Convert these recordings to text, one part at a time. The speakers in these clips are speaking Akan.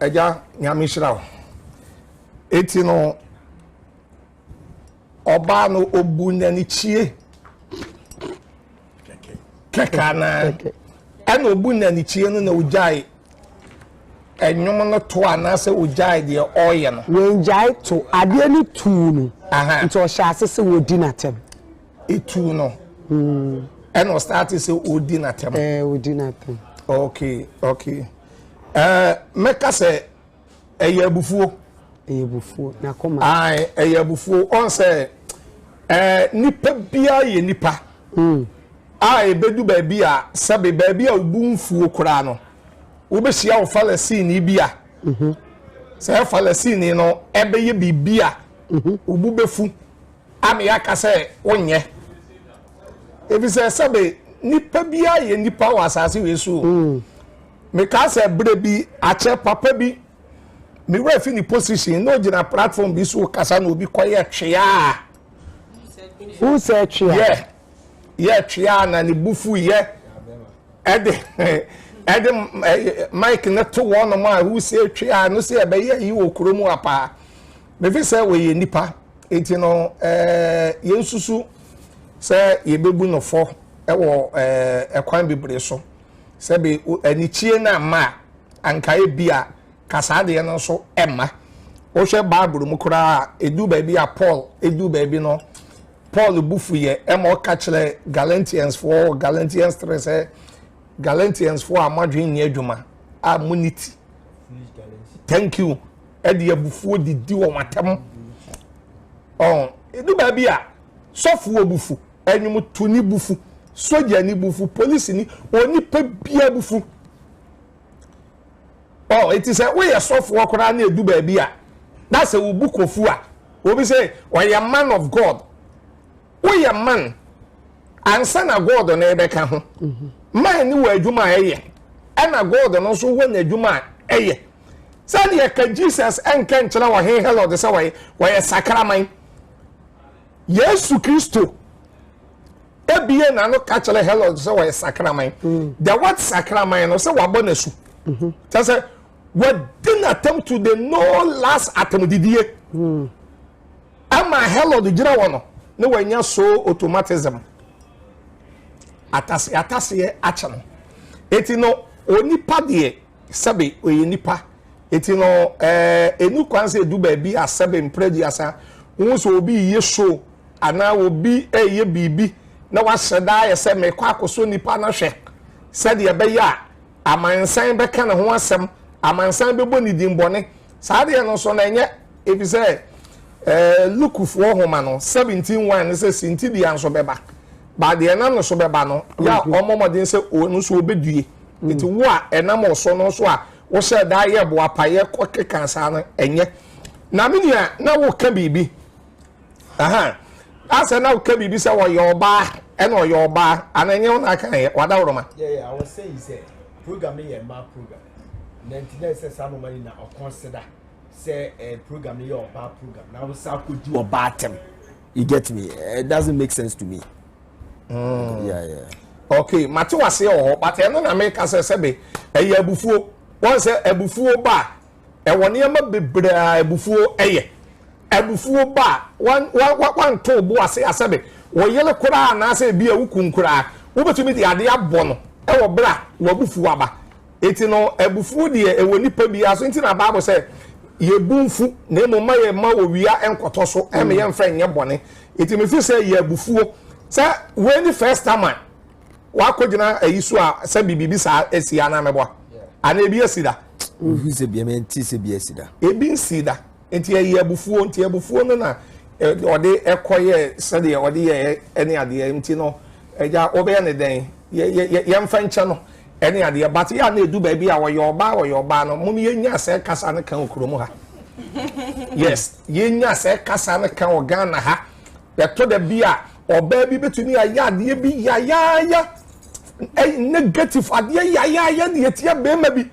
Agya, Nyame nhyira wo. Eti no, ɔbaa no obu nanikyie kɛkɛ anaa ɛna obu nanikyie no na ogyae ɛnwom no to anaasɛ ogyae deɛ ɔreyɛ no. wɔngyae to adeɛ no tuu no nti ɔhyɛ ase sɛ wɔdi n'atɛm. etu no hmm. ɛna ɔstarte sɛ ɔdi n'atɛm ɔdi n'atɛm okay okay ɛɛ mɛka sɛ ɛyɛ abufuo ɛyɛ abufuo n'akoma ae ɛyɛ abufuo ɔn sɛ ɛɛ nipa biara yɛ nipa hmm. a ebedu baabi a sɛbi baabi a obu nfuo koraa no wobɛhyia wo falasini bi a mhm. sɛ falasini no ɛbɛyɛ biribi a obu mhm. bɛfu. Ana yɛaka sɛ wonyɛ? Efisɛ sɛbe nipa biara yɛ nipa wɔ asase wei so o. Mm. Mekaa sɛ berɛ bi akyɛ papa bi ne wura fi ne position na ogyina platform bi so kasa na obi kɔyɛ twea. Who said twea? Yɛ yɛ twea na ne bufu yɛ ɛde ɛde mike ne to wɔn a who said twea no sɛ ɛbɛyɛ yi wɔ kurom apaa. Mefe sɛ wɔyɛ nnipa, enti no eh, yɛnsusu sɛ yɛbɛbu no fɔ wɔ eh, ɛkwan bebree so. Sɛ be anikyie no amma a, anka ebi a kasaa deɛ no nso ɛmma. Wohwɛ Bible mu koraa a, ɛdu baabi a Paul ɛdu baabi no, Paul bu fu yɛ ɛma ɔka kyerɛ Galatiansfoɔ, Galatians 3 sɛ Galatiansfoɔ a moadwene nyɛ adwuma a monni ti. Thank you. ɛde abufuo didi wɔn atɛm ɔn edu baabi a sɔfoɔ bufu ɛnwomtoni bufu sogyani bufu polisini onipa bia bufu ɔn eti sɛ woyɛ sɔfoɔ koraa na edu baabi a na sɛ wobu kofu a obi sɛ ɔyɛ man of god. woyɛ man ansa na god no ɛbɛka ho mhm. man ne wɔ adwuma a ɛyɛ ɛna god no nso wɔ n'adwuma a ɛyɛ sɛdeɛ ka jesus ɛnka nkyerɛ ɔhen herod sɛ wɔyɛ wɔyɛ sakraman yesu kristo ebie n'ano ka kyerɛ herod sɛ wɔyɛ sakraman mm. the word sakraman no sɛ wabɔ n'asu mhm. kyɛ sɛ wɔdi n'atam to the no last atamdidie. Mm. Ɛmaa Herod gyina hɔ no na wanya so automatism. Atase ataseɛ akyɛ no. Eti no onipa deɛ sɛbe ɔyɛ nipa. Eti no ɛɛ enu kwan sɛ edu baabi a sɛbe mpere aduasa wohu sɛ obi yɛ show anaa obi ɛyɛ biribi na wahyɛ daa yɛ sɛ mekɔ akɔsɔ nipa na hwɛ sɛdeɛ ɛbɛyɛ a amansan bɛka ne ho asɛm amansan bɛbɔ ne din bɔne Saa deɛ no nso na ɛnyɛ, ɛfiri sɛ Lukefoɔ nwoma no, 17 1 no sɛ sintidua nso bɛba, ba deɛ ɛnam no so bɛba no, yɛ a wɔmmɔ mmɔden sɛ wɔn nso wɔbɛdue. Nti wo a ɛnam wo so no nso a wohyɛ daa yɛ boapaeɛ kɔkeka saa no, ɛnyɛ. Na me nua, na woreka biribi. aha asɛ na woka biribi sɛ wɔyɛ ɔbaa ɛna ɔyɛ ɔbaa ana ɛnyɛ wo na aka yɛ wada woroma program no yɛ mmaa program na nti na ɛsɛ saa noma yi na ɔkɔn seda sɛ ɛɛ eh, program no yɛ ɔbaa program na wosan akɔdi ɔbaa tɛm you get me eh, it doesn't make sense to me. Mm. Yeah, yeah. okay mate wase wɔ hɔ but ɛno na meka sɛ sɛbe ɛyɛ abufuo wɔn sɛ abufuo ba Ɛwɔ nneɛma bebree a abufuo yɛ. Abufuo ba a, wan, wan, wan, wanto wo bo ase asɛbe wo yere koraa anaasɛ ebi a wo kun koraa. Wobɛtumi de adeɛ abɔ no wɔ berɛ a w'abufuo aba. Eti no, abufuo deɛ ɛwɔ nipa biara so. Nti na Bible sɛ, Yɛbu mfu, na mmom ma yɛmma owia nkɔtɔ so, ɛma yɛmfa nyɛ bɔne. Eti mefiri sɛ yɛ abufuo. Sɛ wei ne first time a wakogyina ayi so a sɛ biribi saa asi anaa mɛboa anaa ebi asi da. ofi sɛ bia mɛnti sɛ bi asi da. ebi nsi da nti ɛyɛ abufuo nti abufuo no na ɔde ɛkɔ yɛ sɛdeɛ ɔde yɛ ɛne adeɛ nti no ɛgya ɔbɛyɛ ne dɛn yɛmfa nkyɛ no ɛne adeɛ but yɛ a na edu baabi a ɔyɛ ɔbaa ɔyɛ ɔbaa no mo no yɛnya sɛ kasa no kan okurom ha yes yɛnya sɛ kasa no kan wɔ Ghana ha. Ɛtɔ da bi a, ɔbaa bi bɛtumi ayɛ adeɛ bi yayaaya, negative adeɛ yayaaya de atia bɛrima bi.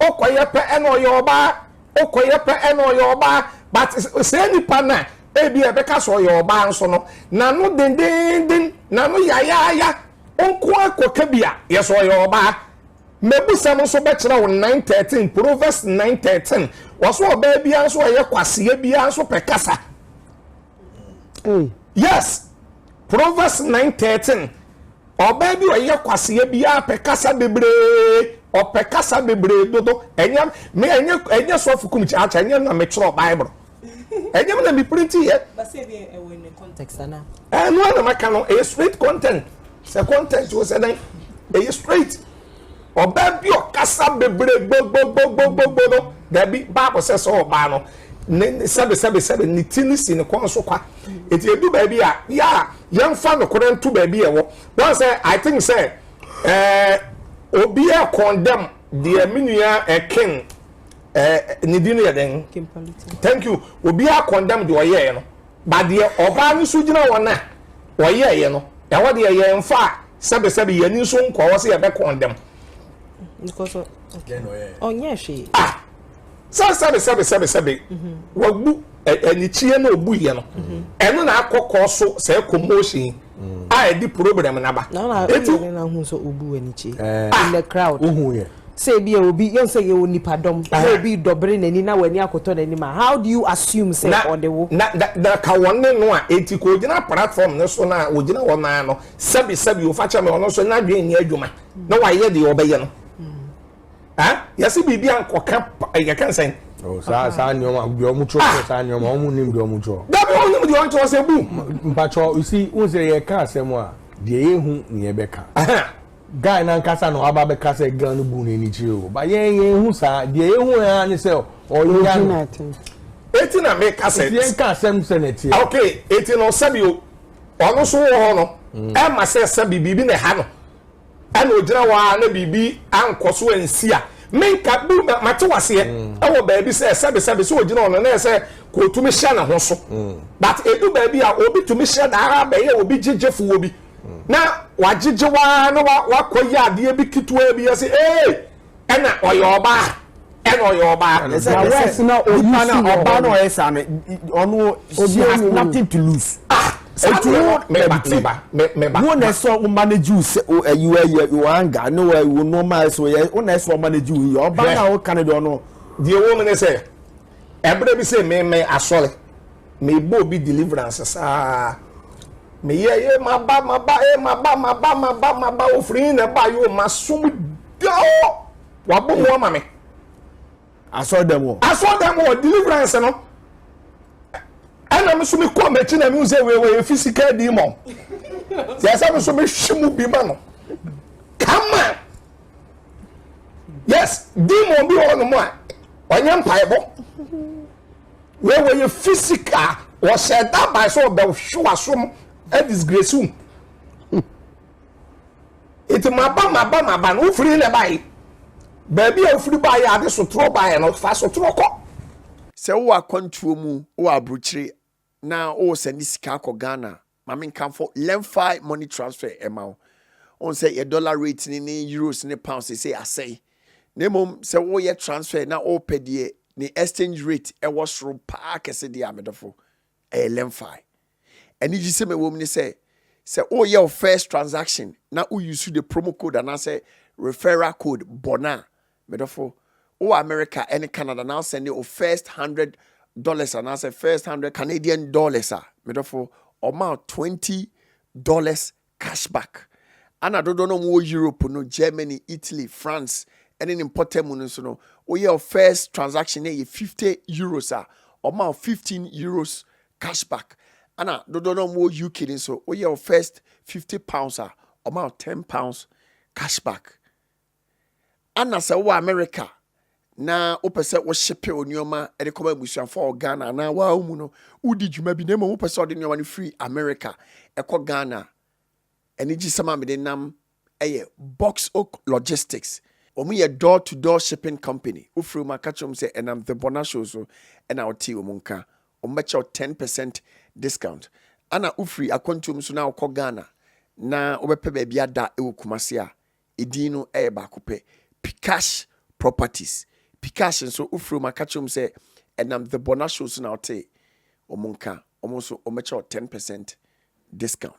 Ɔkɔyɛ pɛ ɛna ɔyɛ ɔbaa, ɔkɔyɛ pɛ ɛna ɔyɛ ɔbaa. But sɛ nipa na ebi a ɛbɛka sɛ ɔyɛ ɔbaa nso no, n'ano dendenden, n'ano yayaaya, nko akɔka bi a, yɛ sɛ ɔyɛ ɔbaa. Mmebusɛm nso bɛkyerɛ wo 9:13, Proverbs 9:13. Wɔso ɔbaa biara nso ɔyɛ kwaseɛ biara nso pɛ kasa. yes proverbs nine thirteen ɔbaa bi ɔyɛ kwaseɛ bi apɛ kasa bebree ɔpɛ kasa bebree dodo ɛnyɛ me ɛnyɛ ɛnyɛ sɔfo kum kyakya ɛnyɛ na me twerɛ bible ɛnyɛ me na me printi yɛ. basa ebi ɛwɔ in the context ana. ɛnu anam aka no ɛyɛ straight content sɛ content o sɛ dɛn ɛyɛ straight. Ɔbaa bi ɔkasa bebree gbogbogbogbogbogbo no, daabi, Bible sɛ sɛ ɔbaa no, ne sɛbesɛbesɛbe ne ti no si ne kɔn so kwa. Eti edu baabi a, yɛ a yɛmfa nokorɛ nto baabi a ɛwɔ. Wɔn sɛ, I think sɛ, ɛɛ, obi a condemn deɛ me nua ɛken, ɛɛ, ne din yɛ dɛn? Thank you. Obi a condemn deɛ ɔyɛɛ no. But deɛ ɔbaa no so gyina hɔ no a ɔyɛeɛ no, ɛhɔ deɛ yɛmfaa sɛbesɛbe, yɛn ani nso nkɔɔ hɔ sɛ yɛbɛkɔn dɛm. Because ɔ- okay. Then ɔyɛ. ɔnyɛ hwee Ah! Sɛ sɛbesɛbe sɛbesɛbe, wabu ɛ- anikyie na ɔbuiɛ no, ɛno na akɔkɔ so saa commotion yi. mm. a ɛde problem na ba. na na ebi ne na ho sɛ obu wani kye eh. in the crowd. ohun yɛ. sɛ ebi yɛ obi yɛn sɛ yɛ onipa dɔm sɛ eh. obi dɔbere n'ani na w'ani akɔtɔ n'anim a how do you assume sɛ ɔde wo. na na na ka wɔn ne no a eti kò gyina platform ne so na ogyina wɔn nan no sɛbi sɛbi ofa kyɛ mi ɔno nso n'adwene ni adwuma na wayɛ deɛ ɔbɛyɛ no. ah yɛsi biribi ankɔka yɛka nsɛn. Oh, saa saa nneɛma deɛ ɔmo twerɛ ah. saa nneɛma ɔmo nim deɛ ɔmo twerɛ. dabi ɔmo nim deɛ ɔmo twerɛ sɛ bu. mpatsɔ you see n sɛ yɛ ka asɛm a deɛ yɛ hu ne yɛ bɛ ka. guy nankasa na waba bɛ ka sɛ girl no bu n'ani kyerɛ o ba yɛn yɛn hu saa deɛ yɛ hu yɛn ani sɛ ɔyɛ ano. eti na mi ka sɛ. eti yɛn ka asɛm sɛ na ɛteɛ. Ah, ok eti na ɔsɛbi o ɔno so wɔ hɔ no ɛma mm. sɛ sɛbi biribi na ɛha no. Ɛna ogyina hɔ ara na biribi ankɔ so ansi a menka bi na mate waseɛ mm. wɔ baabi sɛ sɛbesɛbe sɛ ogyina ɔno na ɛsɛ ka otumi hyɛ ne ho so mm. but edu baabi a obi tumi hyɛ daa bɛyɛ obi gyegyefo wɔ bi mm. na wagyegye waa na wakɔ yɛ adeɛ bi ketewa bi ɛsɛ ee. ɛna ɔyɛ ɔbaa ɛna ɔyɛ ɔbaa na ɛsɛ ɛsɛ wɛs na onipa na ɔbaa na ɔyɛ saa no ɔno she has nothing to lose ah etu wo mɛba mɛba mɛba wo na ɛsɛ wo manage wo sɛ wo ɛyi wo ɛyɛ wo anga ne wo ɛyi wo nneɛma ɛsɛ wo yɛ wo na ɛsɛ wo manage wo yɛ ɔbaa na ɔka ne deɛ ɔno deɛ wɔn mu ne sɛ. Ɛberɛ bi se me me asɔre mebɔ obi deliverance saa meyɛ ye maba maba e maba maba maba maba ofiri na ɛba yo masom dao wabɔ mu ama me asɔre dɛm wɔ asɔre dɛm wɔ deliverance no ɛna me so me kɔ m'akyi na me sɛ wei wɔyɛ physical demon yɛ sɛ me so me hwe mu bi ma no kama yes demon bi wɔ nom a ɔnyɛ mpaebɔ wɔwɔ yɛ physical wɔhyɛ dabae sɛ ɔbɛhwe wasom adisgrace wo nti maba maba maba no wofiri na ɛbae baabi a wofiri baeɛ ade sotorɔ baeɛ no fa sotorɔ kɔ sɛ wowɔ akwantuo mu wɔ aburokyire na wowɔ sɛ ne sika akɔ ghana Ma menkamfo Lemfi money transfer ɛma wo. Wohu sɛ yɛ dollar rate ne ne euros ne pounds sesei asɛe. Na mmom sɛ woyɛ transfer na wopɛ deɛ ne exchange rate ɛwɔ soro paa kɛse deɛ a medɔfo, ɛyɛ Lemfi. Anigyesɛm a ɛwɔ mu ne sɛ, sɛ woyɛ wo first transaction na wo use the promo code anaasɛ referral code bɔ no a, Me dɔfo, wo wɔ America ne Canada na wo sɛnde wo first hundred dollars anaasɛ first hundred Canadian dollars a, me dɔfo, ɔma wo twenty dollars cash back. Ana dodoɔ no a wɔwɔ Europe no, Germany, Italy, France ne ne mpɔtam mu no nso no, woyɛ wo first transaction na ɛyɛ fifty euros a, ɔma wo fifteen euros cash back. Ana dodoɔ no a wɔwɔ UK no nso, woyɛ wo first fifty pounds a, ɔma wo ten pounds cash back. Ana sɛ wowɔ America na wopɛ sɛ wohyepe wo nneɛma de kɔma abusuafo a wɔ Ghana anaa waa wo mu no, wodi dwuma bi na mmom wopɛ sɛ ɔde nneɛma no firi America ɛkɔ Ghana. Anigyesɛm a mede nam yɛ Box Oak Logistics. Wɔn yɛ door to door shipping company. Wofiri wɔn aka kyerɛ wɔn sɛ ɛnam The Bona Show so na wotee wɔn nka. Wɔn bɛkyɛ wo 10 percent discount. Ana wofiri akwantuo mu so na wokɔ Ghana na wobɛpɛ baabi ada wɔ Kumasi a, Edin no yɛ baako pɛ, Pikash Properties. Pikash nso, wofrɛ wɔn a, ka kyerɛ wɔn sɛ ɛnam The Borna Show so na wotee wɔn nka. Wɔn nso, wɔbɛkyɛ wo ten percent discount.